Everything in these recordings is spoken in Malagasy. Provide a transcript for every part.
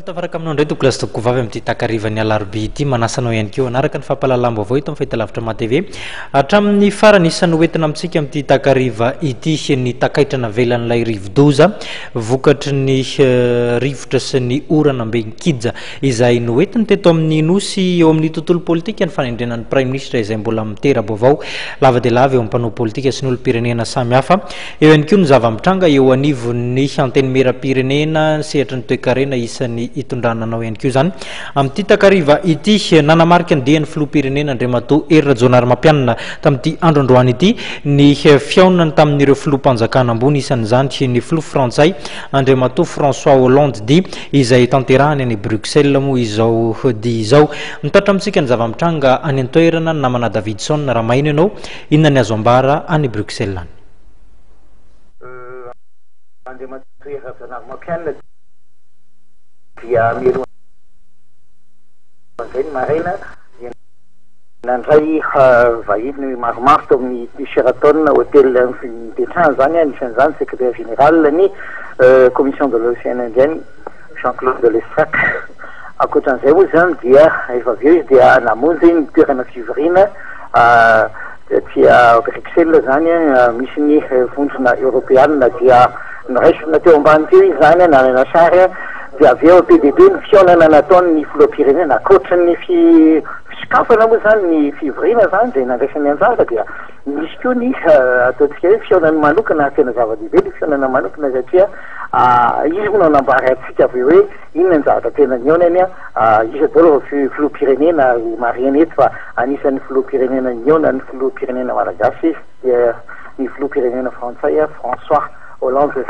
tafaraka aminao indray tokolasy tokoa vavy amin'ity takarivan'ny alarobia ity manasanao ihany koa anaraka ny fampahalalam-baovao eto amin'ny fahitalavitra matv hatramin'ny farany isan'ny hoentina amintsika amin'ity takariva ity ny takaitra navelan'ilay rivodoza vokatry ny rivotra sy ny orana mbe nikija izay noentiny teto amin'ny Nosy eo amin'ny tontolo politika ny fanendrena ny Praiminisitra izay mbola mitera-baovao lava dia lava eo amin'ny mpanao politika sy ny olom-pirenena samihafa. Eo ihany koa ny zava-mitranga eo anivon'ny Antenimieram-pirenena, sehatry ny toekarena isan'ny itondrana anao ihany koa izany. Amin'ity takariva ity, nanamarika ny dian'ny Filoham-pirenena Andriamatoa Hery Rajaonarimampianina tamin'ity andro androany ity ny fihaonany tamin'ireo Filoham-panjakana ambony isan'izany ny Filoha Frantsay Andriamatoa François Hollande, dia izay tanterahany any Bruxelles moa izao dia izao. Mitaritra amintsika ny zava-mitranga any an-toerana ny namana Davidson raha maheno ianao inona ny azo ambara any Bruxelles any. Andriamatoa Hery Rajaonarimampianina. Dia mialoha an'izay ny maraina dia nandray vahiny maromaro tao amin'ny Sheraton Hotel nipetrahany izany, anisan'izany Secretaire Général ny Commission de l'Océan Indien, Jean Claude Lestrac. Ankoatran'izay moa izany dia rehefa avy eo izy dia namonjy ny toerana fivoriana. Etsy Bruxelles izany, misy ny vondrona eoropeanina dia noraisina teo ambany teo izy izany, nalaina sary, dia avy eo be dia be ny fihaonana nataon'ny filoham-pirenena. Ankoatry ny fisokafana moa izany ny fivoriana izany dia nandraisany anjara dia nisy koa ny ataontsika hoe fihaonana manokana ary tena zava-dehibe ilay fihaonana manokana satria izy moa no nanambara antsika avy eo hoe Inona ny zavatra tena nihaona anie an? Iza daholo ireo fi- filoham-pirenena ary marihina eto fa anisan'ny filoham-pirenena nihaona ny filoham-pirenena malagasy izy dia ny filoham-pirenena frantsay François Hollande.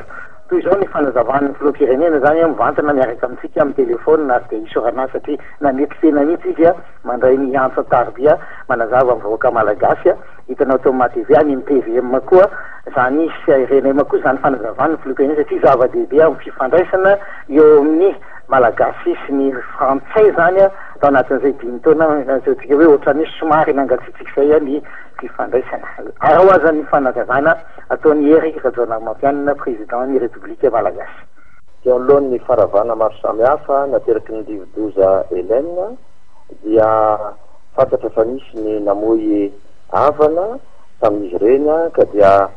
Toy izao ny fanazavan'ny filoham-pirenena izany an, mivantana miaraka amintsika amin'ny telefaonina ary dia isaorana azy satria nanetry tena mihitsy izy mandray ny antsa an-tariby manazava amin'ny vahoaka malagasy. Hitanao tao Madevia ny MPVM koa zany sy renema koa zany fanazavan'ny filoham-pirenena satria zava-dehibe amin'ny fifandraisana eo amin'ny Malagasy sy ny Frantsay zany tao anatin'izay dimy taona azontsika hoe ohatran'ny somary nangatsiatsiaka izay ny fifandraisana. Araho aza ny fanazavana ataon'i Hery Rajaonarimampianina Président ny République Malagasy. Teo anoloan'ny faravana maro samihafa nateraky ny rivodoza Helene dia. Fantatra fa nisy ny namoy havana tamin'izy ireny ka dia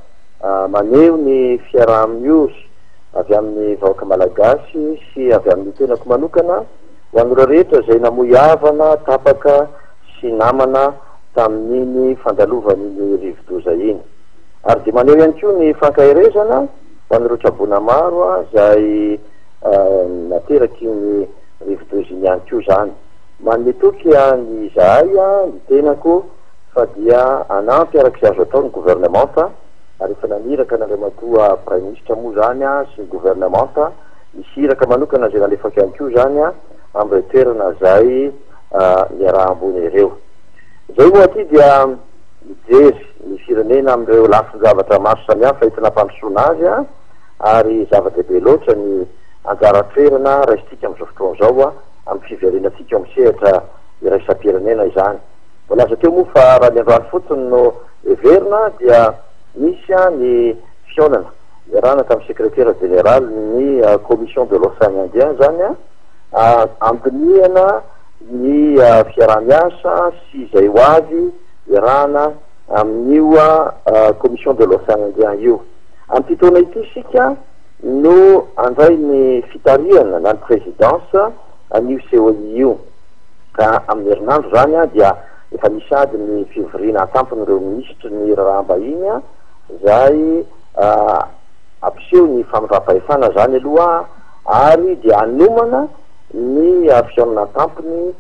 maneho ny fiaraha-miory avy amin'ny vahoaka Malagasy sy avy amin'ny tenako manokana ho an'ireo rehetra izay namoy havana, tapaka sy namana tamin'iny fandalovan'iny rivodoza iny. Ary dia maneho ihany koa ny fankaherezana ho an'ireo traboina maro izay nateraky iny rivodoza iny ihany koa izany. Manome toky an i izahay an ny tenako fa dia hanampy araka izay azo atao ny governemanta ary efa naniraka an Andriamatoa Praiminisitra moa izany an sy ny governemanta hisy iraka manokana izay nalefako ihany koa izany an amin ireo toerana izay niaraha-ambony ireo. Izay moa aty dia mijery ny firenena amin ireo lafin-javatra maro samihafa entina hampandrosoana azy an ary zava-dehibe loatra ny anjara toerana raisintsika amin izao fotoana izao an. amin'ny fiverenantsika eo amin'ny sehatra iraisam-pirenena izany. Voalaza teo moa fa raha ny androany fotsiny no heverina dia nisy ny fihaonana niarahana tamin'ny Sekretera Jeneralin'ny Commission de l'Ocean Indien izany handinihana ny fiaraha-miasa sy izay ho avy iarahana amin'io Commission de l'Ocean Indien io. Amin'ity taona ity isika. No handray ny fitarihana na ny présidence an'io COI io. Ka amin'ny herinandro izany dia efa misy ady ny fivoriana antampon'ireo minisitry ny raharaham-bahiny izay hampiseho ny famindram-pahefana izany aloha ary dia hanomana ny fihaonana antampony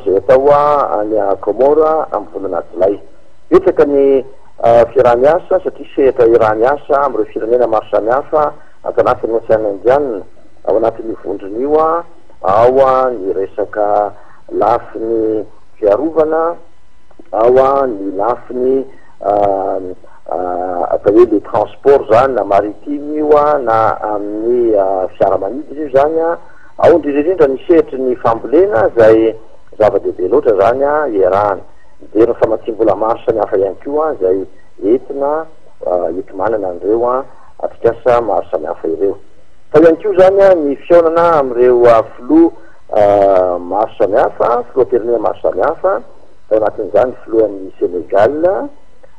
izay atao any Comores amin'ny volana jolay. Betsaka ny Fiaraha-miasa, satria sehatra iaraha miasa amin'ireo firenena maro samihafa ato anatin'ny Ocean Indiana ao anatin'io vondrona io ao ny resaka lafiny fiarovana, ao ny lafiny atao hoe le transport zany na maritime io na amin'ny fiaramanidina io zany, ao indrindra indrindra ny sehatry ny fambolena izay zava-dehibe loatra zany iarahana. Mijery ny famatsiam-bola maro samihafa ihany koa izay entina hiotomanana an'ireo atrikasa maro samihafa ireo. Tao ihany koa izany ny fihaonana amin'ireo filoha maro samihafa, filoham-pirenena maro samihafa, tao anatin'izany ny filohan'i Sénégal,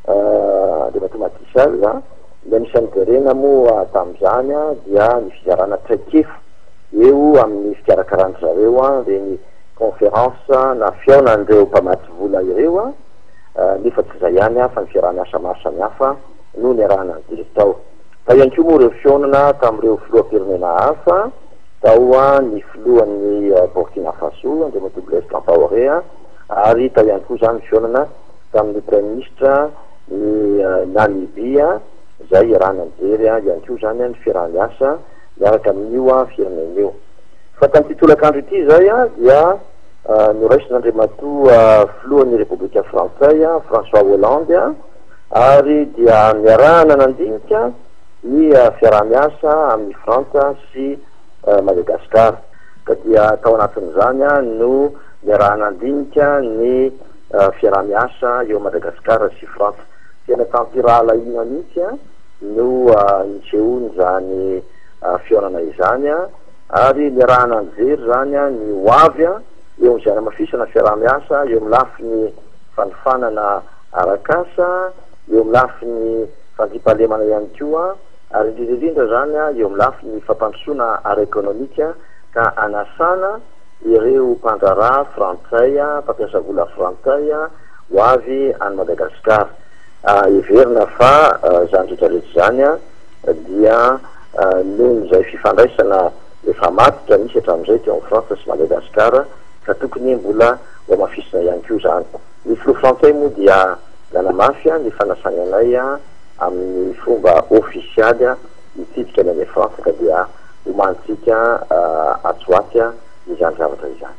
Andriamatoa Macky Sall. Ny anisan'ny jerena moa tamin'izany dia ny fizarana traikefa eo amin'ny fikarakaràn-dry zareo ireny. conference na fihaonan'ireo mpamatsy vola ireo nefa tsy izay ihany fa ny fiaraha-miasa maro samihafa no niarahana nijery tao. Tao ihany koa moa ireo fihaonana tamin'ireo filoham-pirenena hafa, tao ny filohan'i Burkina Faso, Andriamatoa Blaise Campaoré, ary tao ihany koa izany ny fihaonana tamin'ny praiminisitra ny Namibia izay iarahana nijery ihany koa izany ny fiaraha-miasa miaraka amin'io firenena io. Fa tamin'ity tolakandro ity izay dia noraisin'Andriamatoa Filohan'ny Repoblika Frantsay François Hollande ary dia niarahana nandinika ny fiaraha-miasa amin'i Frantsa sy Madagasikara. Ka dia tao anatin'izany no niaraha-nandinika ny fiaraha-miasa eo Madagasikara sy Frantsa. Tena tampirahalahiana mihitsy no nisehoan'izany fihaonana izany. ary niarahana nijery izany ny ho avy eo amin'izay hanamafisana fiaraha-miasa eo amin'ny lafiny fanofanana arak'asa, eo amin'ny lafiny fandriampahalemana ihany koa, ary indrindra indrindra izany eo amin'ny lafiny fampandrosoana ara-ekonomika ka hanasana ireo mpandraharaha frantsay, mpampiasa vola frantsay ho avy any Madagasikara. Heverina fa izany rehetra rehetra izany. dia noho izay fifandraisana efa matotra nisy hatramin'izay teo amin'i Frantsa sy Madagasikara ka tokony mbola hohamafisina ihany koa izany. Ny filoha frantsay moa dia nanamafy ny fanasany anay amin'ny fomba ofisialy hitsidika ny any Frantsa ka dia homanintsika atsy ho atsy izany zavatra izany.